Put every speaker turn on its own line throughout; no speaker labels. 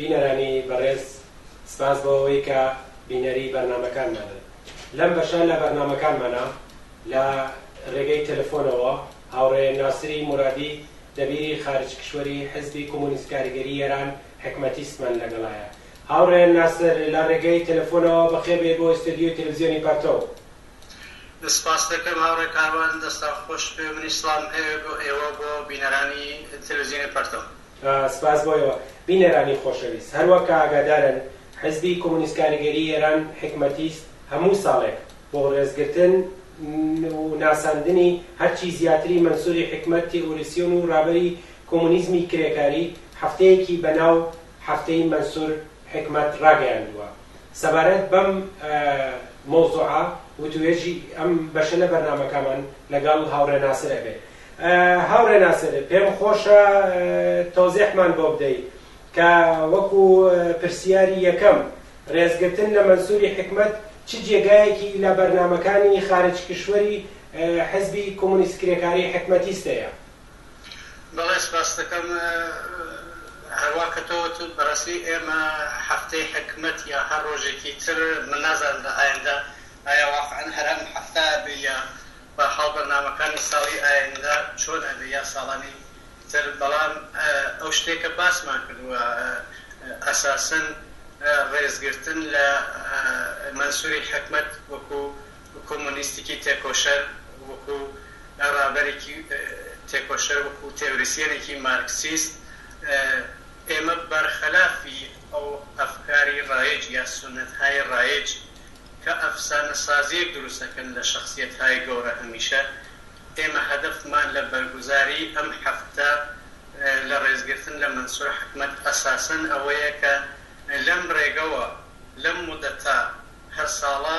بینەرانی بەڕێز سپاس بۆ ئەوەی کە بینەری بەرنامەکانمانن لەم بەشە لە بەرنامەکانمانە لە ڕێگەی تەلەفۆنەوە هاوڕێ ناسری مرادی دەبیری خارج کشوەری حزبی کۆمۆنیست کاریگەری ئێران حکمەتیستمان لەگەڵایە هاوڕێ ناسر لە ڕێگەی تەلەفۆنەوە بەخێبێ بۆ ئستۆدیۆی تەلەڤزیۆنی پەرتەو.
سپاست دەکەم هاوڕێ کاروان. دەستان خۆش بێ منیش سڵام هەیە بۆ ئێوەو بۆ بینەرانی تەلەفزیۆنی پەرتەو. سپاس بۆ ئێوە
بینەرانی خۆشەویست. هەروەک کە ئاگادارن حزبی کۆمۆنیست کاریگەری ئێران حیکمەتیست هەموو ساڵێک بۆ ڕێزگرتن و ناساندنی هەرچی زیاتری مەنسوری حیکمەت تیئوریسیۆن و ڕابەری کۆمۆنیزمی کرێکاری هەفتەیەکی بە ناو هەفتەیی مەنسور حیکمەت ڕاگەیاندووە سەبارەت بەم مەوزوعە وتووێژی ئەم بەشە لە بەرنامەکەمان لەگەڵ هاوڕێ ناسر ئەبێ هاوڕێ ناسر پێم خۆشە تۆزێحمان بۆ بدەی کە وەکو پرسیاری یەکەم ڕێزگرتن لە مەنسوری حکمت چ جێگایەکی لە بەرنامەکانی خارج کشوەری حزبی کۆمونیست کرێکاری حکمەتیستەیە
بەڵێ سپاست دەکەم هەروا کەتەوەت بەڕاستی ئێمە هەفتەی حکمەت یا هەر ڕۆژێکی تر من نازانم لە ئایندە ئایا واقعەن هەر ئەم هەفتە ئەبێ یا بەحاڵ بەرنامەکانی ساڵی ئایندە چۆن ئەبێ یا ساڵانی تر بەڵام ئەو شتێکە باسمان کردوە ئەساسەن ڕێزگرتن لە مەنسوری حکمەت وەکو کۆمۆنیستیکی تێکۆشەر وەکو ڕابەرێکی تێکۆشەر وەکو تێوریسیەنێکی مارکسیست ئێمە بەرخەلافی ئەو ئەفکاری ڕایج یا سونەتهای ڕایج کە ئەفسانە سازیەک دروست ئەکەن لە شەخسیەتهای گەورە هەمیشە ئێمە هەدەفمان لە بەرگوزاری ئەم هەفتە لە ڕێزگرتن لە مەنسور حکمەت ئەساسەن ئەوەیە کە لەم ڕێگەوە لەم مودەتە هەر ساڵە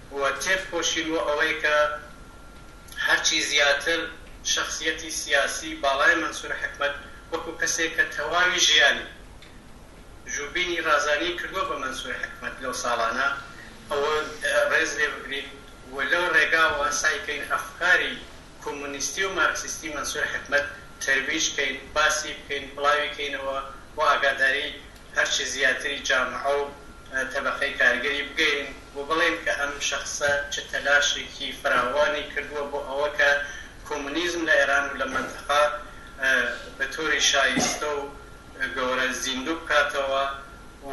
و تێفکۆشین بۆ ئەوەی کە هەرچی زیاتر شەخسیەتی سیاسی باڵای مەنسور حکمەت وەکو کەسێک کە تەواوی ژیانی ژوبینی رازانی کردوە بە مەنسور حکمەت لەو ساڵانە ئەوە رێز لێ بگرین و لەو رێگاوە سەعی کەین ئەفکاری کۆمۆنیستی و مارکسیستی مەنسور حکمەت تەرویج کەین باسی بکەین بڵاوی کەینەوە و ئاگاداری هەرچی زیاتری جامعە و تەبەقەی کارگەری بگێین و بڵێین کە ئەم شەخسە چ تەلاشێکی فراوانی کردووە بۆ ئەوە کە کۆمۆنیزم لە ئێران و لە مەنتەقە بە تۆری شایستە و گەورە زیندوو بکاتەوە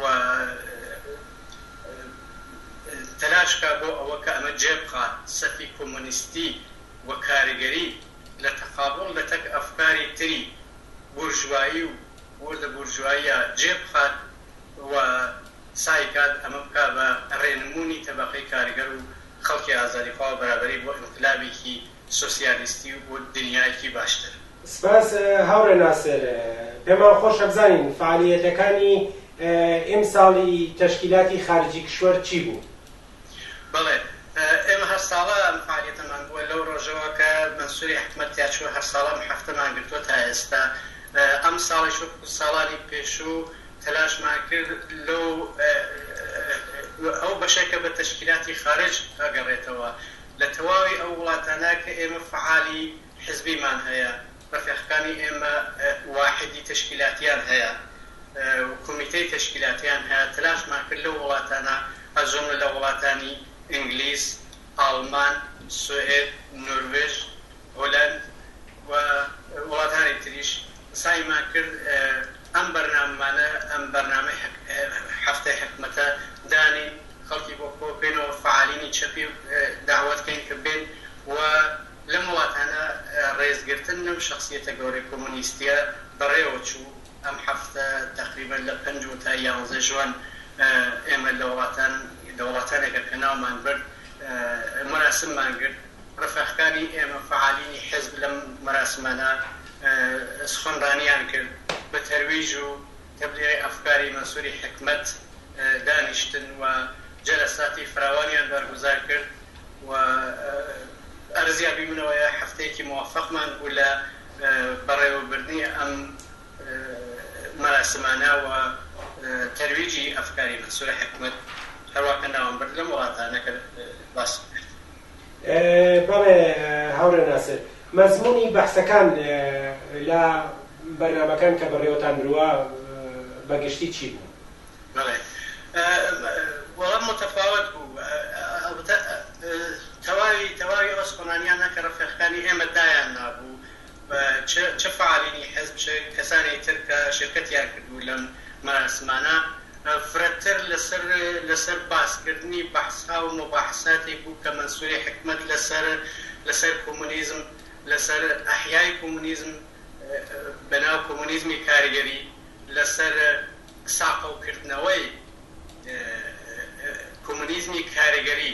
و تەلاش بکات بۆ ئەوە کە ئەمە جێ بخات سەفی کۆمۆنیستی و کارگەری لە تەقابوڵ لە تەک ئەفکاری تری بورژوایی و وردە بورژواییە جێ بخات و سای کات ئەمە بکات بە ڕێنموونی تەبەقەی کارگەر و خەڵکی ئازادیخوا و بەرابەری بۆ ئینقلابێکی سۆسیالیستی و دنیایەکی باشتر. سپاس
هاوڕێ ناسر، پێمان خۆشە بزانین فەعالییەتەکانی ئیمساڵی تەشکیلاتی خارجی کشوەر چی بوو؟ بەڵێ
ئێمە هەر ساڵە ئەم فعالیەتەمان بووە لەو ڕۆژەوە کە مەنسوری حکومەت تیا چووە هەر ساڵە ئەم حەفتەمان گرتووە تا ئێستا ئەم ساڵیش وەکو ساڵانی پێشوو تەلاشمان کرد لەو ئەو بەشەی کە بە تەشکیلاتی خارج ئەگەڕێتەوە لە تەواوی ئەو وڵاتانە کە ئێمە فعالی حزبیمان هەیە لە فێخەکانی ئێمە واحیدی تەشکیلاتیان هەیە و کۆمیتەی تەشکیلاتیان هەیە، تەلاشمان کرد لەو وڵاتانە هە جوملە لە وڵاتانی ئینگلیز، ئاڵمان، سوئێد، نۆروێژ، هولەند و وڵاتانی تریش سەعیمان کرد ئەم بەرناممانە ئەم بەرنامەی هەفتەی حکومەتە دانێین، خەڵکی بۆ کۆبکەینەوە، فەعالینی چەپی دەعوەت کەین کە بێن و. لەم وڵاتانە ڕێزگرتن لەم شەخسیەتە گەورەی کۆمۆنیستیە بەڕێوە چوو، ئەم هەفتە تەقریبەن لە پەنج و تا یانزە ژوان ئێمە لە وڵاتان لە وڵاتانێکە کە ناومان برد مەراسممان گرت، ڕفێقکانی ئێمە فەعالینی حیزب لەم مەراسمانە سخنڕانیان کرد بە تەرویج و. تەبلیغی ئەفکاری مەنسوری حیکمەت دانیشتن و جەلەساتی فراوانیان بەرگوزار کرد و ئەرزیابی منەوەیە هەفتەیەکی موفەقمان بوو لە بەڕێوەبردنی ئەم مەراسمانە و تەرویجی ئەفکاری مەنسور حیکمەت هەروا کە ناوم برد لەم وڵاتانە کە باسم کرد.
بەڵێ هاوڕێ ناسر مەزموونی بەحسەکان لە بەرنامەکان کە بەڕێوەتان بروا بە گشتی چی بوو؟ بەڵێ وەڵام متەفاوەت
بوو ئەڵبەتە تەواوی تەواوی ئەو سپەنانیانە کە ڕەفێقەکانی ئێمە دایان نابوو چ فەعالینی حزب چ کەسانی تر کە شرکەتیان کردبوو لەم مەراسمانە فرەتر لەسەر باسکردنی بەحسها و موباحساتێک بوو کە مەنسوری حکمەت لەسەر کۆمۆنیزم لەسەر ئەحیای کۆمۆنیزم بەناو کۆمۆنیزمی کارگەری لەسەر ساقەوکردنەوەی کۆمۆنیزمی کارگەری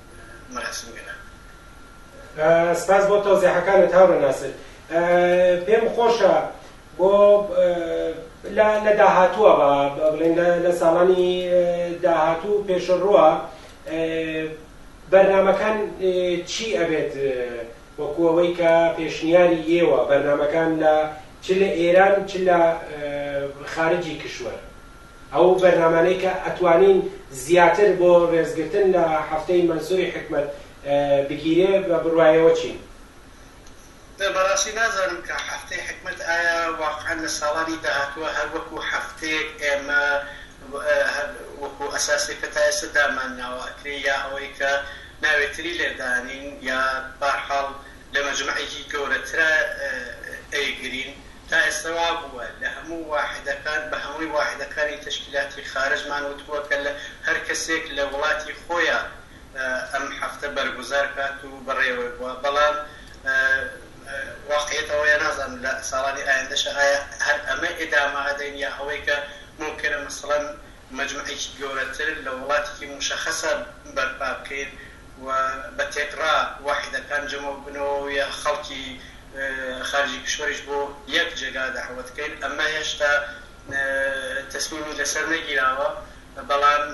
مەراسم
گەلان. سپاس بۆ تەوزیحەکانت هاورێ ناسر. پێم خۆشە بۆ لە لە داهاتووە با بڵێن لە لە ساڵانی داهاتوو پێشەڕووە بەرنامەکان چی ئەبێت وەکو ئەوەی کە پێشنیاری ئێوە بەرنامەکان لە چ لە ئێران چ لە خارجی کشوەر. ئەو بەرنامانەی کە ئەتوانین زیاتر بۆ رێزگرتن لە هەفتەی مەنسوری حیکمەت بگیرێ بە بڕوایەوە چین؟
بەڕاستی نازانم کە هەفتەی حیکمەت ئایا واقعەن لە ساڵانی داهاتووە هەر وەکو هەفتەیەک ئێمە وەکو ئەساسێک کە تا ئێستا دامان ناوە ئەکرێ یا ئەوەی کە ناوێ تری لێ دانین یا بارحاڵ لە مەجمەعێکی گەورەترا ئەیگرین. تا ئێستا وا بووە لە هەموو واحدەکان بە هەمووی واحدەکانی تەشکیلاتی خارجمان وتووە کە لە هەر کەسێک لە وڵاتی خۆیا ئەم هەفتە بەرگوزار کات و بەڕێوەی بووە بەڵام واقعیەت ئەوەیە نازانم لە ساڵانی ئایندەشا ئایا هەر ئەمە ئیدامە ئەدەین یا ئەوەی کە مومکینە مەسەڵەن مەجمەعێکی گەورەتر لە وڵاتێکی موشەخەسا بەرپا بکەین و بە تێکڕا واحیدەکان جەمەو بنەوە و یە خەڵکی خارجی کشوەریش بۆ یەک جێگا دەعوەت کەین ئەمە هێشتا تەسمیمی لەسەر نەگیراوە بەڵام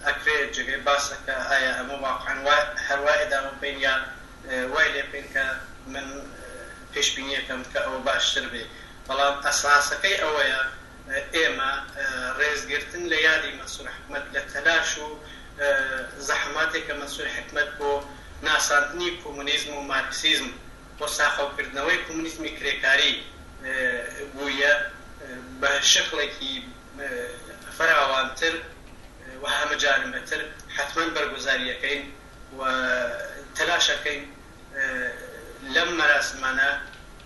ئەکرێ جێگەی باسە کە ئایا ئەمە واقعەن وا هەر وایە داوا بکەین یا وای لێ بکەین کە من پێشبینیەکەم کە ئەوە باشتر بێ بەڵام ئەساسەکەی ئەوەیە ئێمە ڕێزگرتن لە یادی مەنسور حکمەت لە تەلاش و زەحەماتێک کە مەنسور حکمەت بۆ ناساندنی کومونیزم و مارکسیزم و ساخەوکردنەوەی کومونیزمی کرێکاری بوویە بە شکڵێکی فراوانتر و هەمەجانبەتر حەتمەن بەرگوزاریەکەین و تەلاشەکەین لەم مەراسمانە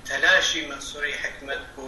تەلاشی مەنسوری حکمەت بۆ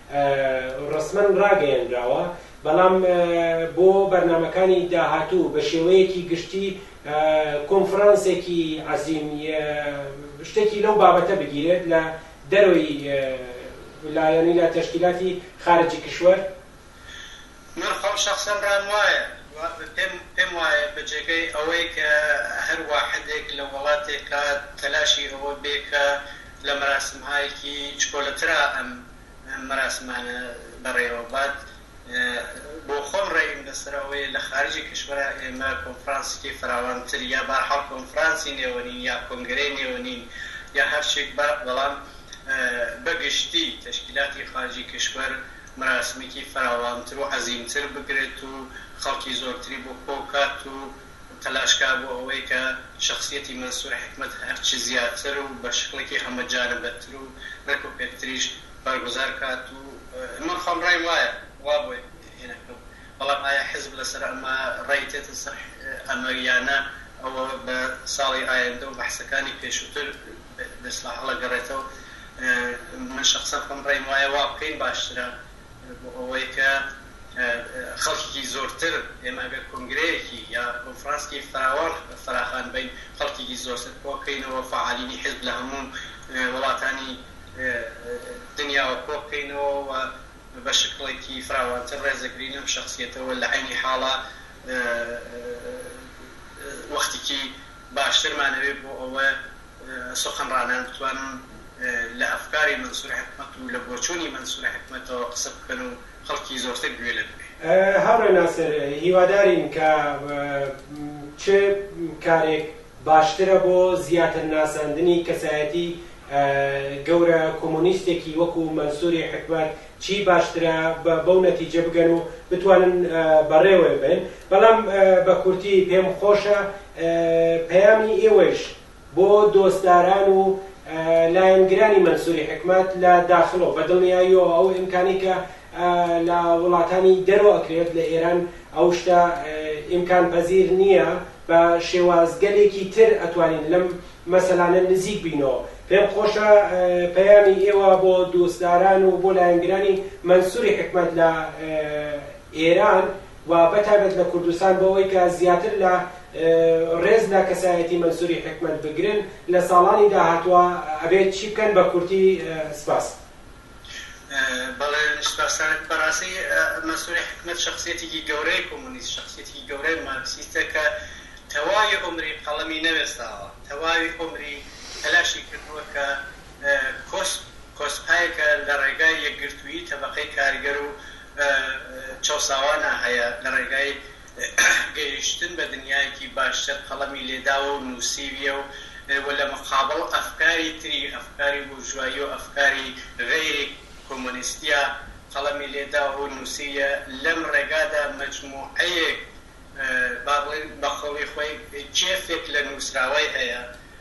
ڕەسمەن ڕاگەیەنراوە، بەڵام بۆ بەرنامەکانی داهاتوو بە شێوەیەکی گشتی کۆنفرانسێکی عەزیم یە شتێکی لەو بابەتە بگیرێت لە دەرەوەی لایەنی لە تەشکیلاتی خارجی کشوەر.
من خۆم شەخسەن رام وایە پێم پێم وایە بە جێگای ئەوەی کە هەر واحدێک لە وەڵاتێکا تەلاشی ئەوە بێ کە لە مەراسمهایەکی چکۆلەترا ئەم مەراسمانە بەڕێوە بات بۆ خۆم رەئیم لە سەر ئەوەیە لە خارجی کشوەرا ئێمە کۆنفرانسیکی فراوانتر یا بە هەر حاڵ کۆنفرانسی نێوەنین یا کۆنگرەی نێوەنین یا هەر شێک بات بەڵام بە گشتی تەشکیلاتی خارجی کشوەر مراسمێکی فراوانتر و عەزیمتر بکرێت و خەڵکی زۆرتری بۆ کۆ بکات و تەلاش کا بۆ ئەوەی کە شەخسیەتی مەنسور حیکمەت هەر چی زیاتر و بە شکڵێکی هەمە جانبەتر و رێک و پێکتریش بەرگوزار کات و من خۆم رەیم وایە وا بۆ هێناکەم بەڵام ئایا حیزب لە سەر ئەمە رەی دێتە سەر ئەمە یانە ئەوە بە ساڵی ئایندە و بەحسەکانی پێشوتر دەشڵا هەڵەگەڕێتەوە من شەخسەن خۆم ڕێم وایە وا بکەین باشترە بۆ ئەوەی کە خەڵکیکی زۆرتر ئێمە ئەگەر کۆنگرەیەکی یا کۆنفرانسکی فراوان فراخان بەین خەڵکیکی زۆرتر کۆکەینەوە فەعالینی حیزب لە هەموو وڵاتانی دنیاوە کۆبکەینەوە و بە شکڵێکی فراوانتر ڕێزەگری لەم شەخسیەتە و لە عەینی حاڵا وەختیکی باشترمان ئەوێ بۆ ئەوە سوخنڕانان بتوانن لە ئەفکاری مەنسور حکمەت و لە بۆچوونی مەنسور حکمەتەوە قسە بکەن و خەڵکی زۆرتر گوێ لە بگرێ. هاوڕێ ناسر
هیوادارین کە چ کارێک باشترە بۆ زیاتر ناساندنی کەسایەتی گەورە کۆمۆنیستێکی وەکو مەنسوری حکمەت چی باشترە بەو نەتیجە بگەن و بتوانن بەڕێوەێ بەن بەڵام بە کورتی پێم خۆشە پەیامی ئێوەیش بۆ دۆستداران و لایەنگرانی مەنسوری حکمەت لە داخڵۆ بە دڵنیاییەوە ئەو ئیمکانی کە لە وڵاتانی دەرۆ ئەکرێت لە ئێران ئەو شتە ئیمکان پەزیر نییە بە شێوازگەلێکی تر ئەتوانین لەم مەسەلانە نزیک بینەوە پێم خۆشە پەیامی ئێوە بۆ دۆستداران و بۆ لایەنگرانی مەنسوری حکمەت لە ئێران و بەتایبەت لە کوردستان بەوەی کە زیاتر لە ڕێز لە کەسایەتی مەنسوری حکمەت بگرن لە ساڵانی داهاتوە ئەبێت چی بکەن بە کورتی سپاس.
بەڵێ سوپاستانەک بەڕاستی مەنسوری حیکمەت شەخسیەتێکی گەورەی کۆمۆنیست شەخسیەتێکی گەورەی مارکسیستە کە تەواوی عومری قەڵەمی نەوێستاوە تەواوی عومری تەلاشی کردووە کە کۆس کۆسپایەکە لە ڕێگای یەکگرتوویی تەبەقەی کارگەر و چەوساوانە هەیە لە ڕێگای گەیشتن بە دنیایەکی باشتر قەڵەمی لێداوە و نووسیویە و وە لە مقابڵ ئەفکاری تری، ئەفکاری بورژوایی و ئەفکاری غەیری کۆمۆنیستیە قەڵەمی لێداوە و نووسیویە، لەم ڕێگادا مەجموعەیەک با بڵێین بە قەولی خۆی کێفێک لە نووسراوەی هەیە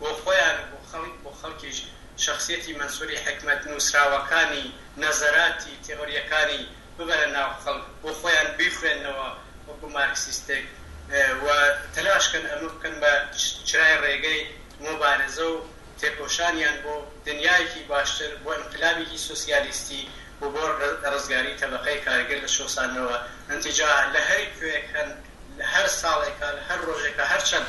بۆ خۆیان و بۆ خەڵک بۆ خەڵکیش شەخسیەتی مەنسوری حیکمەت نوسراوەکانی نەزەراتی تێئۆریەکانی ببەرە ناو خەڵک بۆ خۆیان بیخوێننەوە وەکو مارکسیستێک و تەلاش کەن ئەمە بکەن بە چرای ڕێگەی مۆبارزە و تێکۆشانیان بۆ دنیایەکی باشتر بۆ ئینقلابیکی سۆسیالیستی و بۆ ڕزگاری تەبەقەی کارگر لە چەوساندنەوە ئنتجاع لە هەر کوێیەک هەن لە هەر ساڵێکا لە هەر ڕۆژێکا هەر چەند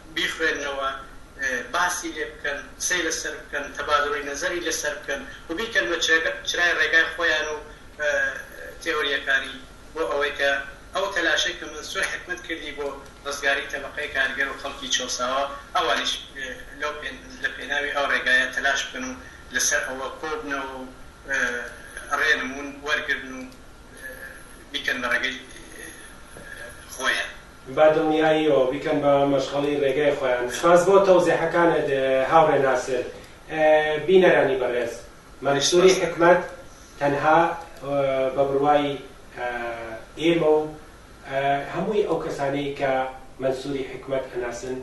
بیخوێننەوە، باسی لێ بکەن، قسەی لەسەر بکەن، تەبادوڵی نەزەری لەسەر بکەن و بیکەن بە چرای ڕێگای خۆیان و تێۆرییەکانی بۆ ئەوەی کە ئەو تەلاشەی کە مەنسور حکمەت کردی بۆ ڕزگاری تەبەقەی کارگەر و خەڵکی چەوساوە ئەوانیش لەو لە پێناوی ئەو ڕێگایە تەلاش بکەن و لەسەر ئەوە کۆ بنەوە و ڕێنموون وەرگرن و بیکەن بە ڕێگەی خۆیان. با
دڵنیاییەوە بیکەن بە مەشخەڵی ڕێگای خۆیان. سپاس بۆ تەوزیحەکانت هاوڕێ ناسر. بینەرانی بەڕێز مەنسوری حیکمەت تەنها بە بڕوای ئێمە و هەمووی ئەو کەسانەی کە مەنسوری حیکمەت ئەناسن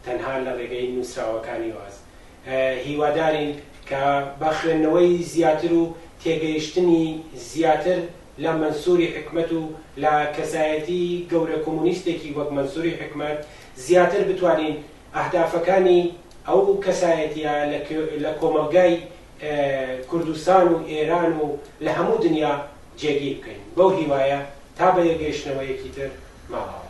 تەنها لە ڕێگەی نووسراوەکانیواز هیوادارین کە بە خوێندنەوەی زیاتر و تێگەیشتنی زیاتر لە مەنسوری حیکمەت و لە کەسایەتی گەورە کۆمۆنیستێکی وەک مەنسوری حیکمەت زیاتر بتوانین ئەهدافەکانی ئەو کەسایەتیە لە کۆمەڵگای کوردستان و ئێران و لە هەموو دنیا جێگیر بکەین بەو هیوایە تا بەیەکگەیشتنەوەیەکی تر ماڵاوا.